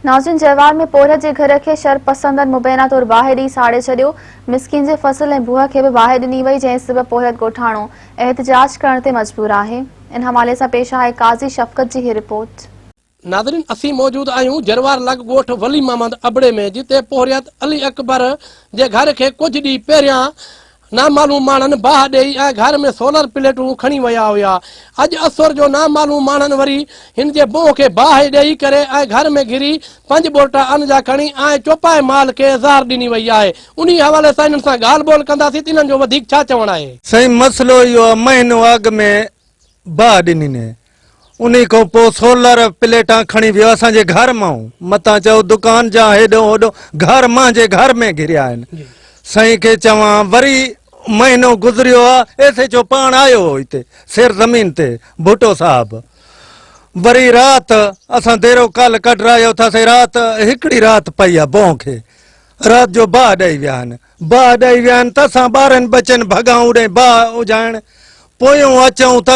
ناظرين جهوار ۾ پورهيت جي گهر کي شر پسندن مبينا طور باهه ڏئي ساڙي ڇڏيو، مسڪين جي فصل ۽ بوهه کي به باهه ڏني وئي جنهن سبب پورهيت ڳوٺاڻو احتجاج ڪرڻ تي مجبور آهي. ان حوالي سان پيش آهي قاضي شفقت جي هي رپورٽ. ناظرين اسين موجود آهيون جهوار لڳ ڳوٺ ولي محمد ابڙي ۾ جتي پورهيت علي اڪبر جي گهر کي ڪجهه ڏينهن پهريان نامعلوم ماڻهن باهه ڏيئي ۽ گهر ۾ سولر پليٽون کڻي ويا هيا. اڄ اسور جو نامعلوم ماڻهن وري هن جي منهن کي باهه ڏيئي ڪري ۽ گهر ۾ گهري پنج ٻورٽا ان جا کڻي ۽ چوپائي مال کي زهر ڏني وئي آهي. انهي حوالي سان هنن سان ڳالهه ٻولهه ڪنداسين ته هنن جو وڌيڪ ڇا چوڻ آهي. سائين مسئلو اهو آهي مهينو اڳ ۾ باهه ڏنين. انهي کان پوء سولر پليٽان کڻي ويو اسان جي گهر مان. متان چئو دڪان جا هيڏو هوڏو گهر مانجي گهر ۾ گهريا آهن. سائين کي چوان وري مهينو گذريو آ ايس ايچ او پاڻ آيو هو هتي سير زمين تي ڀٽو صاحب. وري رات اسان ديرو ڪال ڪڍرايو ٿاسين رات هڪڙي رات پئي آ بونهه کي. رات جو باهه ڏئي ويا آهن. باهه ڏئي ويان ته اسان ٻارن ٻچن ڀڳائون ڏئي باهه اجهائڻ پويون اچئون ته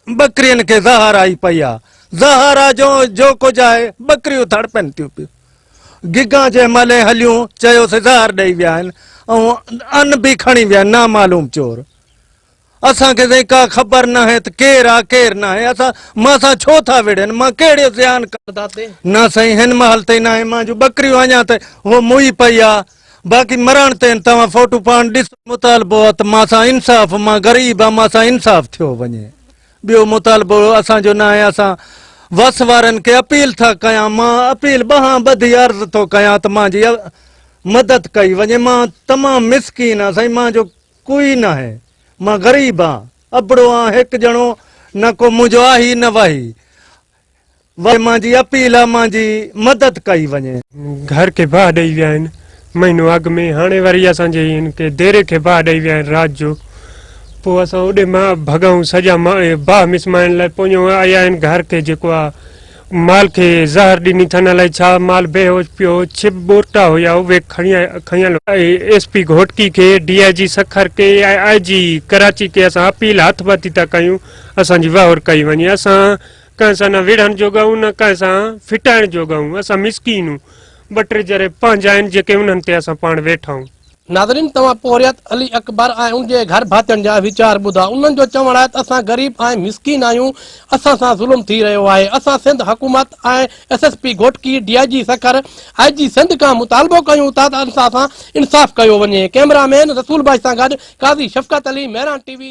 ٻڪرين کي زهر آئي پئي آ زهر آ جو جو ڪجهه آهي ٻڪريون تڙپن ٿيون پيون گگان جنهن مهل ائين هليون چيوسي زهر ڏئي ويا آهن ۽ ان به کڻي ويا نامعلوم چور اسان کي سائين ڪا خبر ناهي ته ڪير آ ڪير ناهي اسان مان سان ڇو ٿا وڙهن مان ڪهڙي زيان نه سائين هن مهل تائين ناهي مان جون ٻڪريون اڃا ته هو موئي پئي آ باقي مرڻ تين توهان فوٽو پاڻ ڏسو مطالبو آ ته مان سان انصاف مان غريب آ مان سان انصاف ٿيو وڃي ٻيو مطالبو اسان جو ناهي اسان وس وارن کي اپيل ٿا ڪيان مان اپيل ٻهان ٻڌي عرض ٿو ڪيان ته مان جي مدد ڪئي وڃي مان تمام مسڪين آ سائين مان جو ڪوئي ناهي، مان غريب آن، ابڙو آن هڪ ڄڻو نه ڪو منهنجو آهي نه واهي، واري مانجي اپيل آ مانجي مدد ڪئي وڃي. گهر کي باهه ڏئي ويا آهن مهينو اڳ ۾ هاڻي وري اسان جي هن کي ديري کي باهه ڏئي ويا آهن رات جو پوء اسان اوڏي مان ڀڳائون سڄا باهه مسمائڻ لاء پويون آيا آهن گهر کي جيڪو آ مال کي زهر ڏني ٿن الائي ڇا مال بي هوش پيو ڇپ ٻورٽا هيا اهي کنيل ايس پي گهوٽڪي کي ڊي آئي جي سکر کي ۽ آئي جي ڪراچي کي اسان اپيل هٿ ڀتي ٿا ڪيون اسان جي وهور ڪئي وڃي اسان ڪنهن سان نه وڙهڻ جوڳا آهيون نه ڪنهن سان ڦٽائڻ جوڳا آهيون اسان مسڪين آهيون ٻه ٽي جري پنهنجا آهن جيڪي انهن تي اسان پاڻ ويٺا آهيون. ناظرين توهان پورهيت علي اڪبر ۽ ان جي گهر ڀاتين جا ويچار ٻڌا انهن جو چوڻ آهي ته اسان غريب ۽ مسڪين آهيون اسان سان ظلم ٿي رهيو آهي اسان سنڌ حڪومت ۽ S S P Ghotki D I G Sukkur I G Sindh کان مطالبو ڪيون ٿا ته اسان سان انصاف ڪيو وڃي ڪئميرا مين رسول بائي سان گڏ قاضي شفقت علي مهراڻ ٽي وي